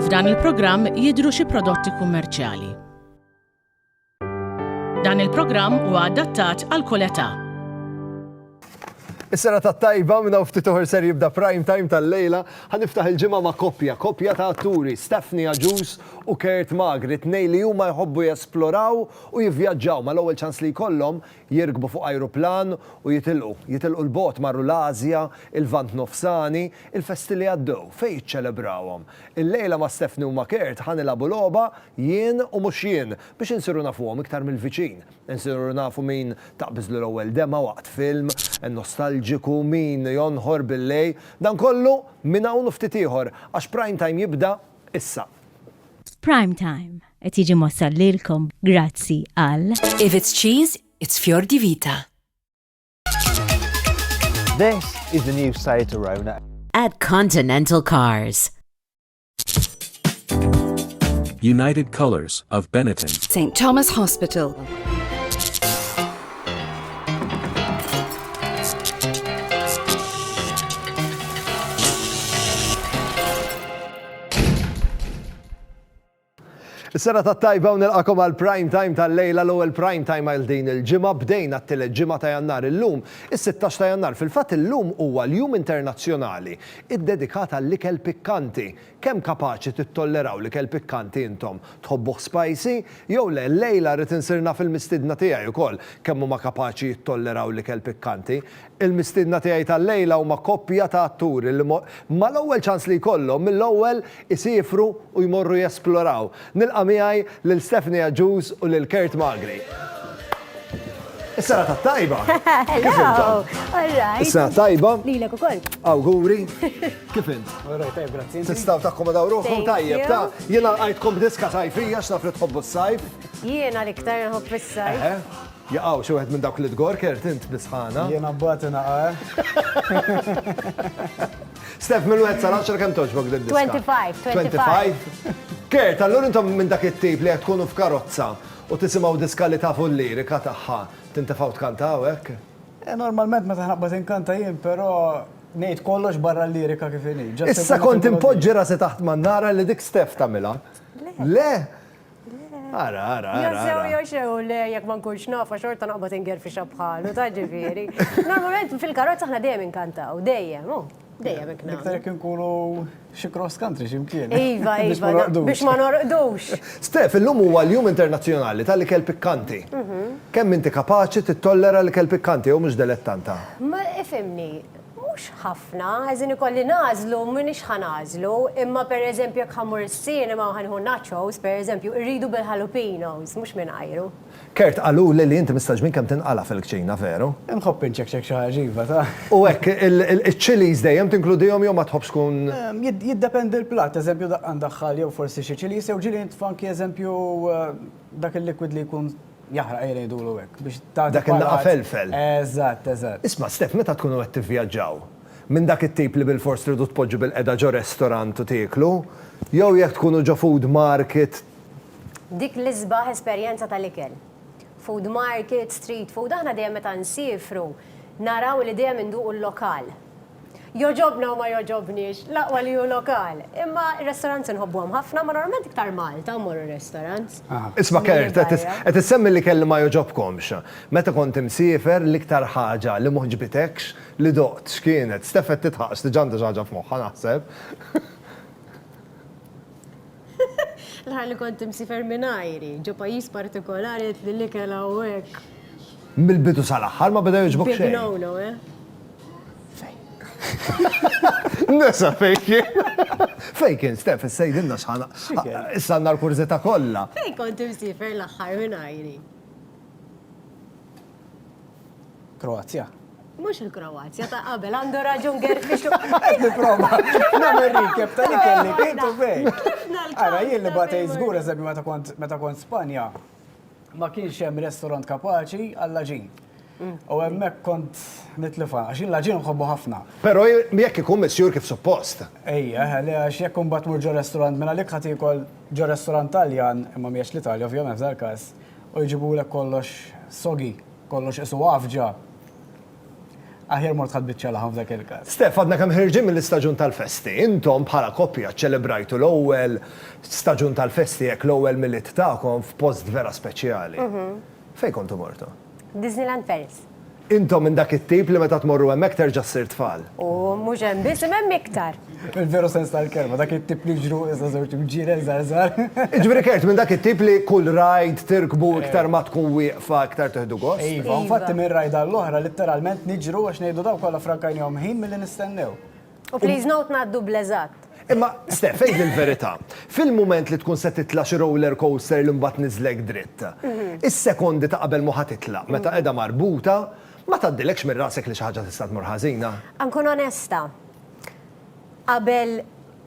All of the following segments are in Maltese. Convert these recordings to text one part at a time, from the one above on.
F'dan il-programm jidhru xi prodotti kummerċjali. Dan il-programm huwa adattat għal kull età. Is-sena ta' tajba minna u ftit uħor ser jibda prime time tal-lejla, ħaniftaħ il-ġimgħa ma' koppja, koppja ta' atturi, Stephanie Aġus u Kurt Magri, tnej li huma jħobbu jesploraw u jivvjaġġaw, mal-ewwel ċans li jkollhom jirkbu fuq ajruplan u jitilqu. Jitilqu 'l bogħod marru l-Ażja, il-Lvant Nofsani, il-festi li għaddew, fejn jiċċelebrawhom. Illejla ma' Stephanie u ma' Kurt ħa nilagħbu logħba Jien u mhux jien biex insiru nafuhom iktar mill-viċin. Insiru nafu min taqbiżlu l-ewwel dema' waqt film nostalġiku, min jonħor bil-lejl. Dan kollu minn hawn u ftit ieħor għax Prime Time jibda issa. Prime Time, Qed jiġi mwassal lilkom grazzi għal. If it's cheese, it's fior di vita. This is the new Seat Arona. At Continental Cars. United Colors of Benetton. St. Thomas Hospital. Is-sena tat-tajba u nilqagħkom għall-Prime Time tal-lejla, l-ewwel Prime Time għal din il-ġimgħa. Bdejna t-tielet ġimgħa ta' Jannar illum, is-sittax ta' Jannar. Fil-fatt illum huwa l-Jum Internazzjonali ddedikat għall-ikel pikkanti. Kemm kapaċi tittolleraw l-ikel pikkanti intom? Tħobbuh spicy? Jew le? Llejla rrid insir naf il-mistiedna tiegħi wkoll kemm huma kapaċi jittolleraw l-ikel pikkanti. Il-mistiedna tiegħi tal-lejla huma koppja ta' atturi li mal-ewwel ċans li jkollhom mill-ewwel isiefru u jmorru jesploraw. Nilqa' miegħi lil Stephanie Agius u lil Kurt Magri. Is-serata t-tajba! Kif intom? Is-sena t-tajba! Lilek ukoll. Awguri! Kif int? Alright, tajjeb, grazzi. Tistgħu takkomodaw ruħkom tajjeb, ta? Jiena lqajtkom b'diska sajfija x'naf li tħobbu s-sajf. Jiena l-iktar nħobb is-sajf. Jaqaw, xi wieħed minn dawk li tgorkert int bis-sħana. Jiena mbagħad naqa' eh. Stef, minn wieħed sal-10 kemm toġbok din diska? 25, 25. Kert, allura intom minn dak it-tip li qed tkunu f'karozza u tisimgħu diska li tafu l-lirika tagħha, tintefgħu tkantaw hekk? Eh, normalment meta ħnaqbad inkanta jien, però ngħid kollox barra l-lirika kif inhi. Issa kont impoġġi rasi taħt man nara li dik Stef tagħmilha. Le, Ara, ara, ara. Josew, josew, le, jek ma nkunx nafa xorta naqbad ingerfixa bħalu, ta' ġifiri. Normalment fil-karozza ħna dejjem inkantaw, dejjem, oh, dejjem ikna. Iktar jek nkunu xi cross country ximkien. Iva, iva, biex ma norqdux. Stef, illum huwa l-Jum Internazzjonali tal-Ikel Pikkanti. Mhm. Kemm inti kapaċi tittollera l-ikel pikkanti jew mhux delettanta? Ma ifhimni, Mhux ħafna, għażin ikolli nagħżlu, m'iniex ħa nagħżlu, imma pereżempju jekk ħa mmur is-cinema u ħa nieħu nachos, pereżempju, irridu bil-jalapenos, mhux mingħajru. Kurt, qaluli li inti mistgħoġ minn kemm tinqala' fil-kċina, veru? Inħobb inċekċek xi ħaġa, iva, taf. U hekk, iċ-chilies dejjem tinkludihom jew ma tħobbx tkun. Jiddependi l-platt, eżempju, daqqa mdaħħal jew forsi xi chilies jew ġieli nitfa' anki eżempju dak il-liquid li jkun Jaħraq ejja ngħidulu hekk biex tagħti. Dak il-laqgħa felfel. Eżatt, eżatt. Isma' Stef, meta tkunu qed tivvjaġġaw, minn dak it-tip li bilfors tridu tpoġġu bilqiegħda ġo restorant u tieklu, jew jekk tkunu ġo food market, Dik l-isbaħ esperjenza tal-ikel. Food market, street food, aħna dejjem meta nsiefru naraw li dejjem induqu l-lokal. Jogħġobna u ma jogħġobniex, l-aqwa li hu lokal. Imma r-restaurants inħobbuhom ħafna, ma normalment iktar Malta mmorru r-restaurants. Isma' Kurt, qed issemmi l-ikel li ma jogħġobkomx. Meta kont imsiefer, l-iktar ħaġa li m'għoġbitekx li doqt x'kienet? Steph qed tidħaq, x'diġà għandha xi ħaġa f'moħħha naħseb. L-aħħar li kont imsiefer minn għajri, ġo pajjiż partikolari għedt li l-ikel hawnhekk. Mill-bidu sal-aħħar ma beda jogħġbok xejn. Big no-no, eh? Fejn. Nesa fejn kien. Fejn kien, Stef, issa jidilna xħana. Issa għandna l-kurżità kollha. Fejn kont imsiefer l-aħħar minn għajri? Kroazja. Mhux il-Kroazja ta' qabel għandu raġun Gerfix. Qed nipprova nagħmel recap ta' li kelli kif u fejn. Ara jien li batej żgur eżempju meta kont meta kont Spanja ma kienx hemm restaurant kapaċi għall-aġin. Mm. U hemmhekk kont nitlifa, għax il laġin nħobbu ħafna. Però jekk ikun misjur kif suppost. Ejja, ħalli għax jekk imbagħad mur ġo restaurant minn għalik ħadd ikol ġo restaurant Taljan, imma mhijiex l-Italja ovvjament f'dal-każ, U jġibulek kollox soggy, kollox qisu għafġa. Aħjar mort ħadt biċċa laħam f'dak il-każ. Stef, għadna kemm ħerġin mill-istaġun tal-festi. Intom, bħala koppja, ċċelebrajtu l-ewwel staġun tal-festi, hekk, l-ewwel Milied tagħkom f'post vera speċjali. Fejn kontu mortu? Disneyland Paris. Intom minn dak it-tip li meta tmorru hemmhekk terġa' ssir tfal. U mhux hemm biss, imma hemm iktar. Fil-veru sens tal-kelma, dak it-tip li jiġru iżda żewġ imġienen żgħar żgħar. Jiġifieri kert, minn dak it-tip li kull ride tirkbu iktar ma tkun wieqfa iktar tieħdu gost. Iva, u infatti minn ride għall-oħra litteralment niġru għax ngħidu dawn kollha ffrankajnihom ħin milli nistennew. U please note ngħaddu bl-eżatt. Imma, Steph, għidli l-verità, fil-mument li tkun se titla' xi roller coaster li mbagħad tniżżlek dritt, is-sekondi ta' qabel ma ħa titla', meta qiegħda marbuta, ma tgħaddilekx minn rasek li xi ħaġa tista' tmur ħażina? Nkun onesta, qabel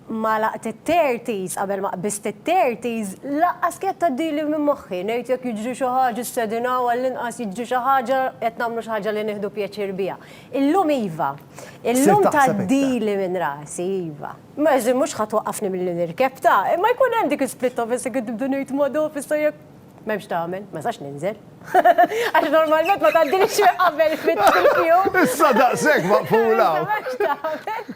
ma għalaqt it-thirties, qabel ma qbiżt it-thirties, lanqas kienet tgħaddili minn moħħi, ngħid jekk jiġri xi ħaġa, s-sedin hawn, għall-inqas jiġri xi ħaġa, qed nagħmlu xi ħaġa li nieħdu pjaċir biha. Illum iva. Illum ta' dili minn rasi, iva. Meġi mux ħat waqqafni mill-li nirkeb ta' imma jkun hemm dik split of jessi għid nibdu nejt ma' do fissa jek. Memx ta' għamil, ma' sax ninżel. Għax normalment ma' ta' dili xie qabel fit fil-fju. Issa da' sek ma' fula. Memx ta' għamil.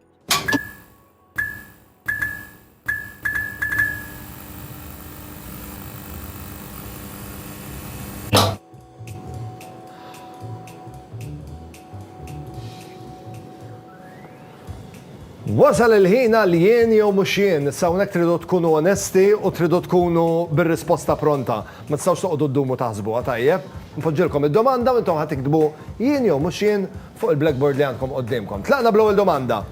Wasal il-ħin għal jien jew mhux jien, sawnek tridu tkunu onesti u tridu tkunu bir-risposta pronta. Ma tistgħux toqgħodu ddumu taħsbuha tajjeb. Nfoġġilkom id-domanda u intom ħad tiktbu jien jew mhux jien Fuq il-blackboard li għandkom quddiemkom. Tlaqna bl-ewwel domanda.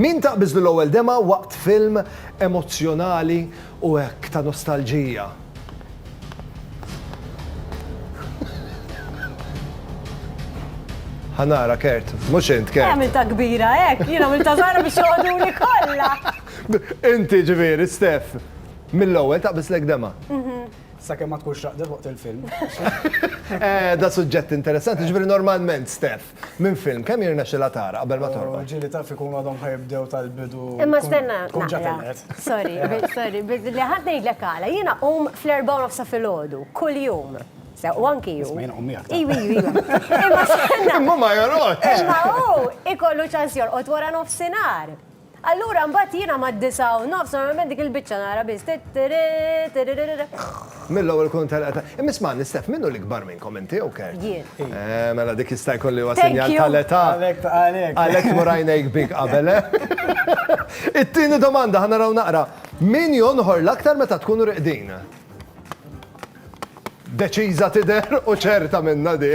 Min taqbiżlu l-ewwel demgħa waqt film emozzjonali u hekk ta' nostalġija? Ħa nara, Kurt. Mhux int, Kurt. Għamiltha kbira hekk, jien għamiltha żgħira biex joqogħduli kollha! Inti, ġifieri, Steph, mill-ewwel taqbiżlek demgħa? Sakemm ma tkunx raqdet waqt il-film. Da suġġett interessanti, ġifieri normalment Steph, minn film kemm jirnexxilha tara qabel ma torqod? Ġieli taf ikunu għadhom ħa jibdew tal-bidu. Imma stenna. Tkun ġa telqet. Sorry, sorry, li ħadd ngħidlek għala, jiena qum fl-erbgħa u nofsa filgħodu, kuljum. U anki ju. Isma' qum miegħek. Iwi, iwi. Imma stenna. Imma ma jorqodx. Imma hu ikollu ċans jorqod wara nofsinhar. Allura mbagħad jiena mad-disgħa u nofs normalment dik il-biċċa nara biss tittirri tirrirrirrirr. Mill-ewwel ikun telqet ta' Imma ismagħni Steph, min hu l-ikbar minnkom, inti jew Kurt? Jien. Eh, mela dik jista' jkun li huwa sinjal tal-età. Għalhekk għalhekk. Għalhekk tmur għajnejk big qabel, eh? It-tieni domanda, ħa naraw naqra. Min jonħor l-aktar meta tkunu riqdin? Deċiża tidher u ċerta minnha di.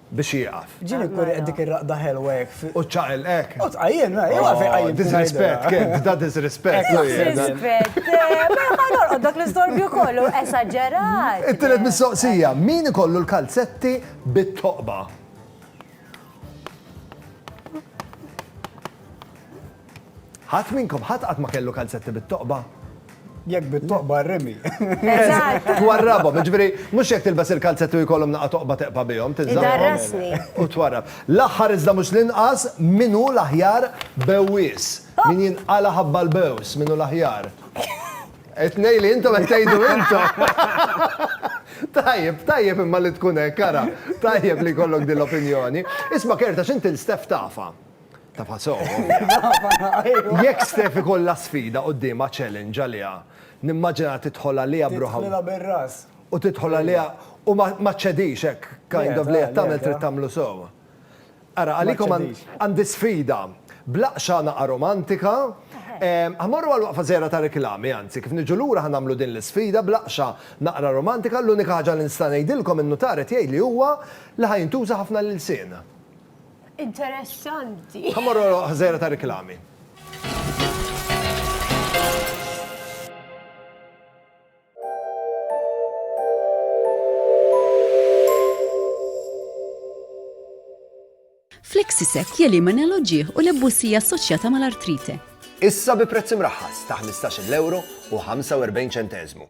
biex jieqaf. Ġieli jkun qed dik ir-raqda ħelwa hekk fi. U ċaqel hekk. U tqajjem, u għalfejn qajjimt. Disrispett, kien da disrispett. Disrispett. Ma norqod dak l-istorbju kollu, esaġerat. It-tielet mistoqsija, min ikollu l-kalzetti bit-toqba? Ħadd minnkom, ħadd qatt ma kellu kalzetti bit-toqba? Jekk bit-toqba rimi. Eżatt. Twarrabhom, jiġifieri mhux jekk tilbes il-kalzetti u jkollhom naqa' toqba teqpa' bihom, tilżaqhom. Idarrasni. U twarrab. L-aħħar iżda mhux l-inqas, min hu l-aħjar bewwies? Min jinqala' ħabba l-bews? Min hu l-aħjar? It-tnejn li intom qed tgħidu intom! Tajjeb, tajjeb imma li tkun hekk, ara. Tajjeb li jkollok din l-opinjoni. Isma' Kerta, x'int il-Steff tafha? Tafha sew, ovvja. Jekk Steph ikollha sfida quddiemha, challenge għaliha, nimmaġinha tidħol għaliha b'ruħha. Tidħlilha bir-ras. U tidħol għaliha u ma ma ċċedix hekk kind of li qed tagħmel trid tagħmlu sew. Ara, għalikom għandi sfida. Bl-aqxa naqa' romantika, ħa mmorru għal waqfa żgħira ta' riklami, anzi, kif niġu lura ħa nagħmlu din l-isfida bl-aqxa naqra romantika, l-unika ħaġa li nista' ngħidilkom in-nutar qed jgħidli huwa li ħa jintuża ħafna l-ilsien. Interessanti. Ħamorru ħżejra ta' riklami. Flexisec jelimina l-oġieħ u l-ebbusija assoċjata mal-artrite. Issa bi prezz imraħħas ta' 15 euro u 45 ċentezmu.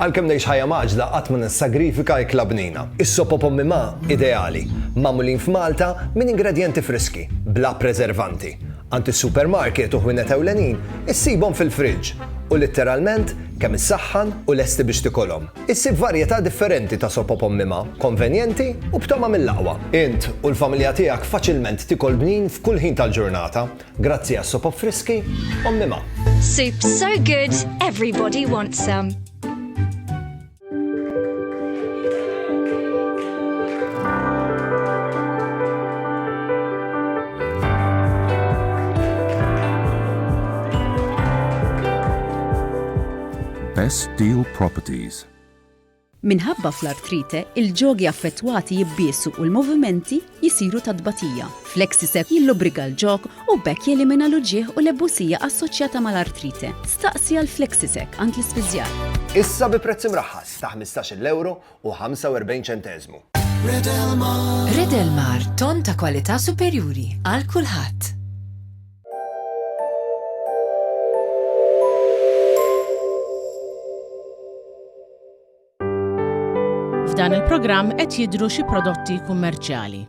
Għalkemm ngħix ħajja mgħaġġla qatt ma nissagrifika ikla bnina. Is-sop o pommi ma' ideali, magħmulin f'Malta minn ingredjenti friski, bla preservanti. Għand is-supermarket u ħwienet ewlenin issibhom fil-friġġ u litteralment kemm issaħħan u lesti biex tikolhom. Issib varjetà differenti ta' sop o pommi ma', konvenjenti u b'togħma mill-aqwa. Int u l-familja tiegħek faċilment tikol bnin f'kull ħin tal-ġurnata. Grazzi għas-sop u friski, Ommi Ma. Soup so good, everybody wants some. Best Deal Properties. Minħabba fl-artrite, il-ġogi affettwati jibbiesu u l-movimenti jisiru ta' tbatija. Flexisep jillubriga l-ġog u b'hekk jelimina l-uġigħ u l-ebbusija assoċjata mal-artrite. Staqsi għal Flexisec għand l-ispiżjar. Issa bi prezz imraħħas ta' ħmistax-il ewro u ħamsa u erbgħin ċenteżmu. Redelmar, tonn ta' kwalità superjuri għal kulħadd. F'dan il-programm qed jidhru xi prodotti kummerċjali.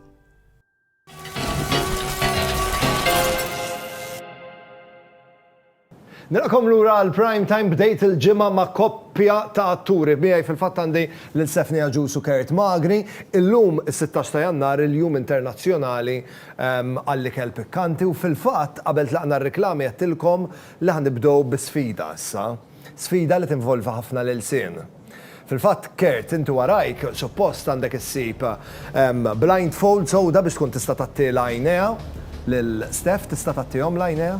Nilqakom lura għal prime time bdejt il-ġimgħa ma' koppja ta' atturi miegħi fil-fatt għandi lil Stephanie Aġus u Kurt Magri. Illum is-16 ta' Jannar il-Jum Internazzjonali għall-ikel pikkanti u fil-fatt qabel tlaqna r-riklami għedtilkom li ħa nibdew bi sfida issa. Sfida li tinvolvi ħafna l-ilsien. Fil-fatt, Kurt, inti warajk, suppost għandek issib blindfold sewda biex tkun tista' tagħti l-għajnejha lil Steph, tista' tagħtihom l-għajnejha?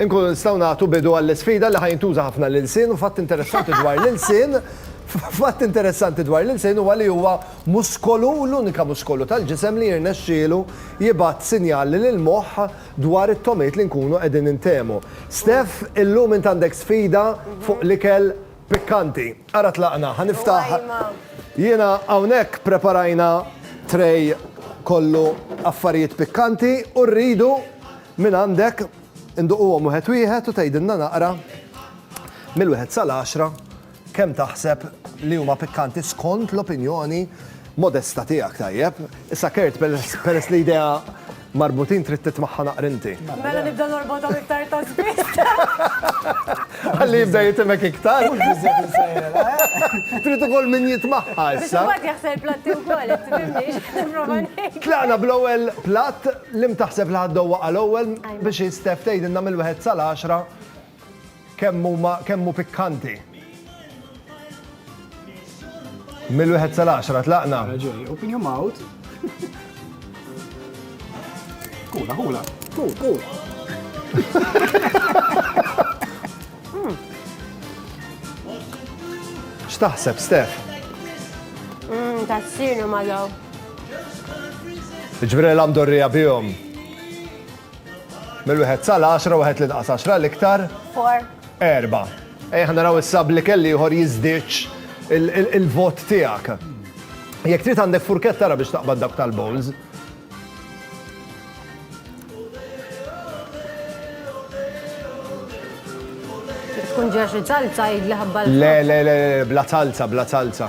Inkunu nistgħu nagħtu bidu għall-isfida li ħa jintuża ħafna l-ilsien u fatt interessanti dwar l-ilsien Fatt interessanti dwar l-ilsien huwa li huwa muskolu u l-unika muskolu tal-ġisem li jirnexxielu jibgħat sinjali lill-moħħ dwar it-togħmiet li nkunu qegħdin intehmu. Steph, illum int għandek sfida fuq l-ikel pikkanti. Ara tlaqna, ħa niftaħ Jiena hawnhekk preparajna tray kollu affarijiet pikkanti u rridu Mingħandek, induquhom wieħed wieħed u tgħidilna naqra mill-wieħed sal-għaxra kemm taħseb li huma pikkanti skont l-opinjoni modesta tiegħek tajjeb. Issa Kurt peress li idea marbutin trid titmaħħa naqrinti. Mela nibda norbotom iktar ta' spiss. Għalli jibda jitimek iktar. Trid ukoll min jitmaħħa issa. Biex jaħsel platti wkoll, tibimniex. Tlaqna bl-ewwel platt Lim taħseb li ħadd dowwaqha l-ewwel biex hi Steph tgħidilna mill-wieħed sal-għaxra kemm huma kemm hu pikkanti? Mill-wieħed sal-għaxra tlaqna. Raġuni, open your mouth. Kula, kula. Kul, kul. X'taħseb, Steph? Mmm, tassinu ma daw. Ġifieri l-għam dorrija bihom. Mill-wieħed sal-10, wieħed li naqas 10 l-iktar. Four. Erba. Ejja ħa naraw issa bli kelli ieħor jiżdiċ il-vot tiegħek. Jekk trid għandek furket tara biex taqbad dak tal-bowls. Tkun ġaxi salza jidli ħabba. Le, le, le, bla salza, bla salza.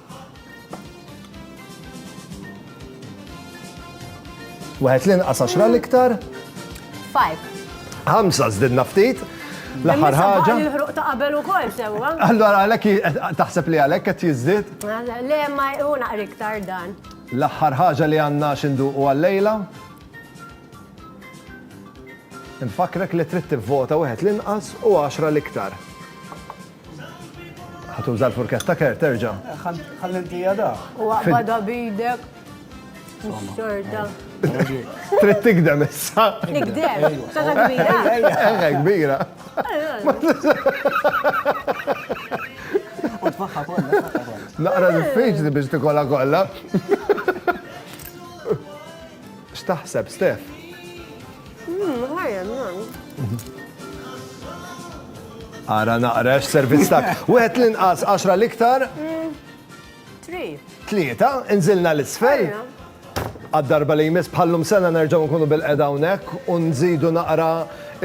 Wieħed l-inqas għaxra l-iktar. Five. Ħamsa żdidna ftit. L-aħħar ħaġa. Il-ħruq ta' qabel ukoll sewwa. Allora għalhekk taħseb li għalhekk qed jiżdied? Le ma hu naqri iktar dan. L-aħħar ħaġa li għandna x'induqu għal-lejla. Nfakrek li trid tivvota wieħed l-inqas u għaxra l-iktar. Ħatuża l-furketta ker terġa'. Ħalli ntija da. U għaqbada bidek. Xorta. Trid tigdem issa. Tigdem. Tata kbira. Eħe kbira. U tfaħħa kollha. Naqra diffiċli biex tikolla kollha. X'taħseb, Steph? Mmm, ħajja, mmm. Ara naqra x-servizz tak. Wieħed l-inqas 10 l-iktar. Tlieta, inżilna l-isfel. Għad-darba li jmiss bħallum sena nerġgħu nkunu bil-qeda hawnhekk u nżidu naqra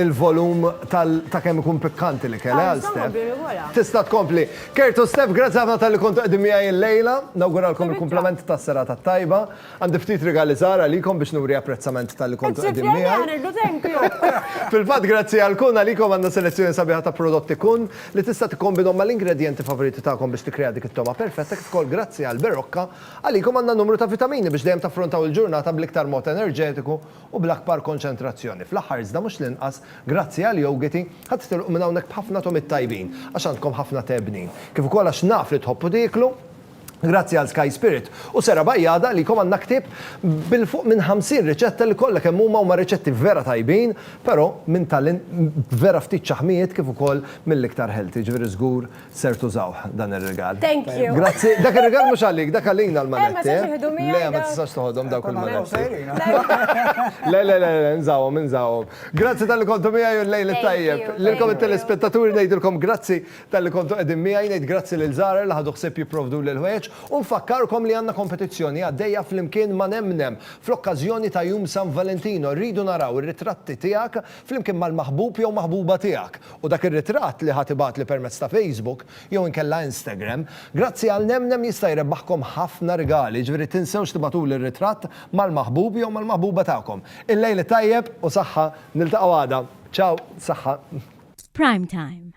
il-volum ta' kemm ikun pikkanti li kellha għal Stef. Tista' tkompli. Kertu Stef, grazzi ħafna tal-li kontu qdim miegħi l-lejla, nawguralkom il-komplement tas-serata tajba. Għandi ftit rigali żgħar għalikom biex nuri apprezzament talli kontu qegħdin miegħi. Qed ġibtilna aħna rridu tempju! Fil-fatt grazzi għal Kun għalikom għandna selezzjoni sabiħa ta' prodotti Kun li tista' tikkombinhom mal-ingredjenti favoriti tagħkom biex tikkrea dik it-togħma perfetta kif ukoll grazzi għal Berocca għalikom għandna numru ta' vitamini biex dejjem taffrontaw il-ġurnata bl-iktar mod enerġetiku u bl-akbar konċentrazzjoni. Fl-aħħar iżda mhux l-inqas, grazzi għal Yogiti, ħadd tilqu minn hawnhekk b'ħafna togħmiet tajbin għax għandkom ħafna tebnin. Kif ukoll għax naf li tħobbu tieklu. Grazzi għal Sky Spirit u Sera Bajjada li jkom għandna ktieb bil fuq minn 50 riċetta li kollha kemm huma huma riċetti vera tajbin pero minn talent vera ftit ċaħmijiet kif ukoll mill-iktar healthy jiġifieri żgur ser tużawh dan ir-rigal. Thank you. Grazzi, dak ir-rigal mhux għalik, dak għalina l-manetti. Eh ma jistax jieħdu miegħi. Le ma tistax toħodhom dawk il-manetti. Le le le le nżawhom nżawhom. Grazzi talli kontu miegħi u l-lejl it-tajjeb. Lilkom it-telespettaturi ngħidilkom grazzi Talli kontu qegħdin miegħi, ngħid grazzi lil Zahra li ħadu ħsieb jipprovduli l-ħwejjeġ u nfakkarkom li għandna kompetizzjoni għaddejja flimkien ma' Nemnem fl-okkażjoni ta' Jum San Valentino. Rridu naraw ir-ritratti tiegħek flimkien mal-maħbub jew maħbuba tiegħek u dak ir-ritratt li ħa tibgħatli permezz ta' Facebook jew inkella Instagram. Grazzi għal Nemnem jista' jrebbaħkom ħafna rigali, jiġifieri tinsewx tibgħatuli r-ritratt mal-maħbub jew mal-maħbuba tagħkom. Il-lejl it-tajjeb u saħħa, niltaqgħu għada. Ciao, saħħa. F'Prime Time.